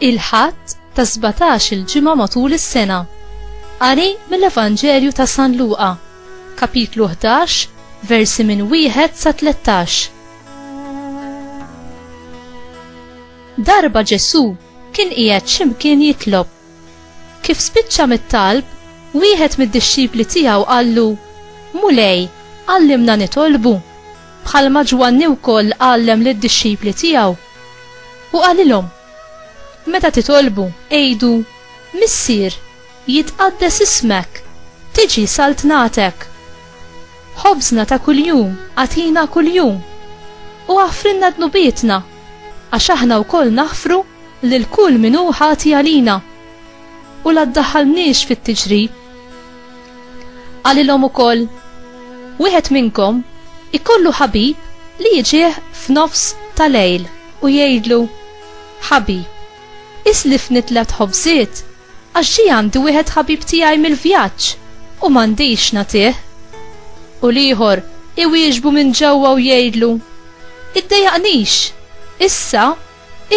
il-ħadd ta' 17 il-ġimgħa matul is-sena. Qari mill-Evanġelju ta' San Luqa, kapitlu 11, versi minn wieħed sa 13. Darba Ġesu kien qiegħed x'imkien jitlob Kif spiċċa mit-talb, wieħed mid-dixxipli tiegħu qallu, Mulej, għallimna nitolbu, bħalma Ġwanni wkoll għallem lid-dixxipli tiegħu. U qalilhom, Meta titolbu, għidu, Missier, jitqaddes ismek, tiġi saltnatek. Ħobżna ta' kuljum agħtina kuljum, u aħfrilna dnubietna, għax aħna wkoll naħfru lil kull min hu ħati għalina u la ddaħħalniex fit-tiġri. Qalilhom ukoll, Wieħed minnkom ikollu ħabib li jiġih f'nofs ta' lejl u jgħidlu, Ħabi, islifni tliet ħobżiet għax ġie għandi wieħed ħabib tiegħi mill-vjaġġ u m'għandix nagħtih. U l-ieħor iwieġbu minn ġewwa u jgħidlu, Iddejjaqnix, issa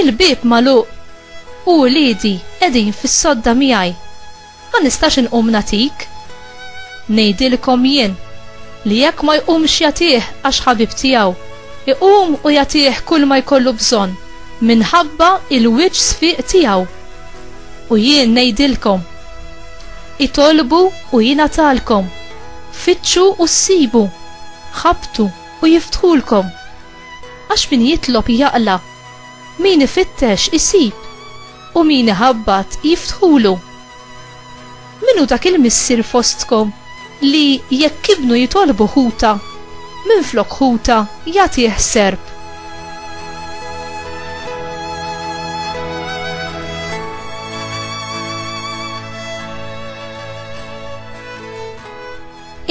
Il-bieb magħluq u uliedi qegħdin fis-sodda miegħi. Ma nistax inqum nagħtik. Ngħidilkom jien li jekk ma jqumx jagħtih għax ħabib tiegħu, iqum u jagħtih kulma jkollu bżonn minħabba l-wiċċ sfiq tiegħu. U jien ngħidilkom, Itolbu u jingħatalkom, fittxu u ssibu, ħabbtu u jiftħulkom. Għax min jitlob jaqla', min ifittex isib, u min iħabbat jiftħulu. Min hu dak il-missier fostkom li jekk ibnu jitolbu ħuta, minflok ħuta jagħtih serp?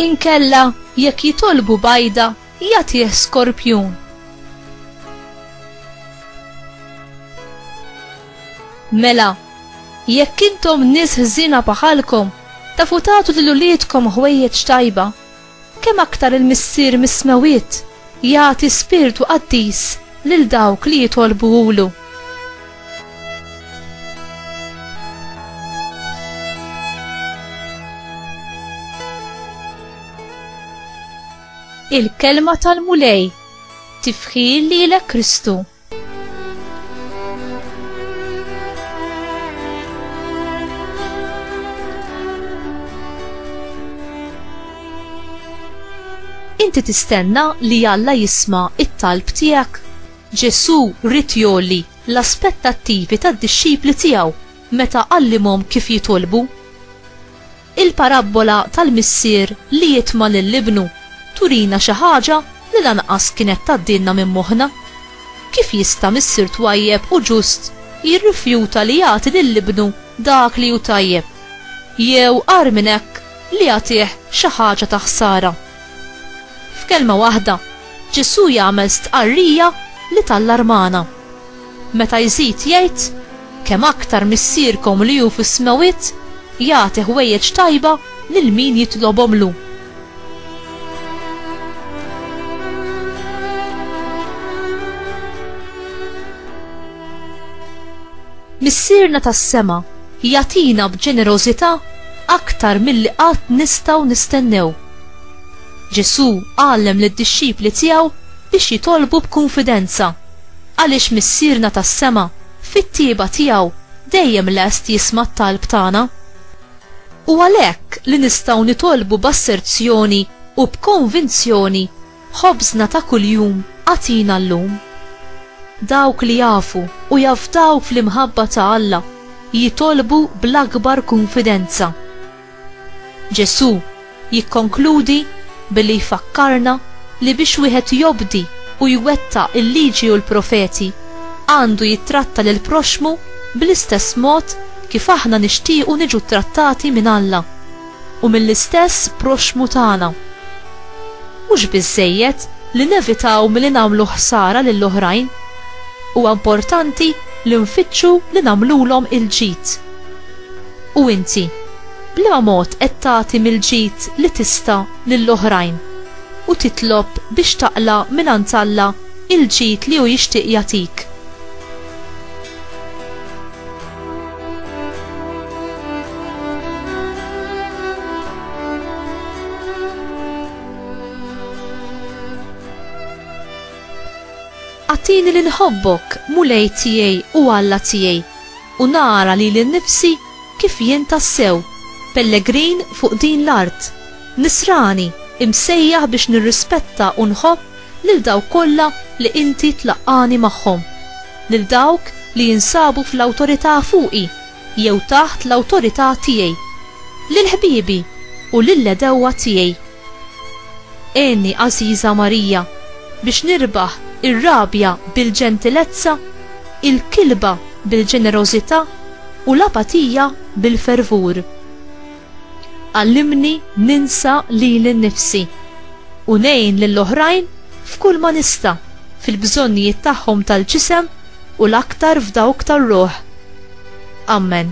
Inkella jekk jitolbu bajda, Jagħtih skorpjun. Mela, jekk intom nies ħżiena bħalkom tafu tagħtu lil uliedkom ħwejjeġ tajba, kemm aktar il-Missier mis-Smewwiet jagħti spirtu qaddis lil dawk li jitolbuhulu. Il-kelma tal-Mulej, tifħir lilek Kristu. Inti tistenna li Alla jisma it-talb tiegħek? Ġesu rrit jolli l-aspettattivi tad-dixxipli tiegħu meta għallimhom kif jitolbu. Il-parabbola tal-missier li jitma' lil ibnu turina xi ħaġa li lanqas kienet tgħaddilna minn moħħna. Kif jista' missier twajjeb u ġust jirrifjuta li jagħti lil ibnu dak li hu tajjeb, jew agħar minn hekk li jagħtih xi ħaġa ta' ħsara? F'kelma waħda, Ġesù jagħmel stqarrija li tallarmana. Meta jżid jgħid, Kemm aktar Missierkom li hu fis-smewwiet jagħti ħwejjeġ tajba lil min jitlobhomlu. Missierna tas-sema jagħtina b'ġenerożità aktar milli qatt nistgħu nistennew. Ġesù għallem lid-dixxipli tiegħu biex jitolbu b'kunfidenza. Għaliex Missierna tas-sema, fit-tjieba tiegħu, dejjem lest jisma' t-talb tagħna. Hu għalhekk li nistgħu nitolbu b'asserzjoni u b'konvinzjoni, Ħobżna ta' kuljum agħtina llum. Dawk li jafu u jafdawk fl-imħabba ta' Alla jitolbu bl-akbar kunfidenza. Ġesù jikkonkludi billi jfakkarna li biex wieħed jobdi u jwettaq il-Liġi u l-Profeti, għandu jittratta lill-proxxmu bl-istess mod kif aħna nixtiequ niġu ttrattati minn Alla u mill-istess proxxmu tagħna. Mhux biżżejjed li nevitaw milli nagħmlu ħsara lil oħrajn, huwa importanti li nfittxu li nagħmlulhom il-ġid. U inti, b'liema mod qed tagħti mill-ġid li tista' lil oħrajn u titlob biex taqla' mingħand Alla l-ġid li hu jixtieq jagħtik? Agħtini li nħobbok, Mulej tiegħi u Alla tiegħi. u nara lili nnifsi kif jien tassew pellegrin fuq din l-art, nisrani imsejjaħ biex nirrispetta u nħobb lil dawk kollha li Inti tlaqqagħni magħhom, lil dawk li jinsabu fl-awtorità fuqi jew taħt l-awtorità tiegħi, lil ħbiebi u lill-għedewwa tiegħi. Għenni, għażiża Marija, biex nirbaħ ir-rabja bil-ġentilezza, il-kilba bil-ġenerożità u l-apatija bil-fervur. Għallimni ninsa lili nnifsi u ngħin lil oħrajn f'kull ma nista' fil-bżonnijiet tagħhom tal-ġisem u l-aktar f'dawk tar-ruħ. Amen.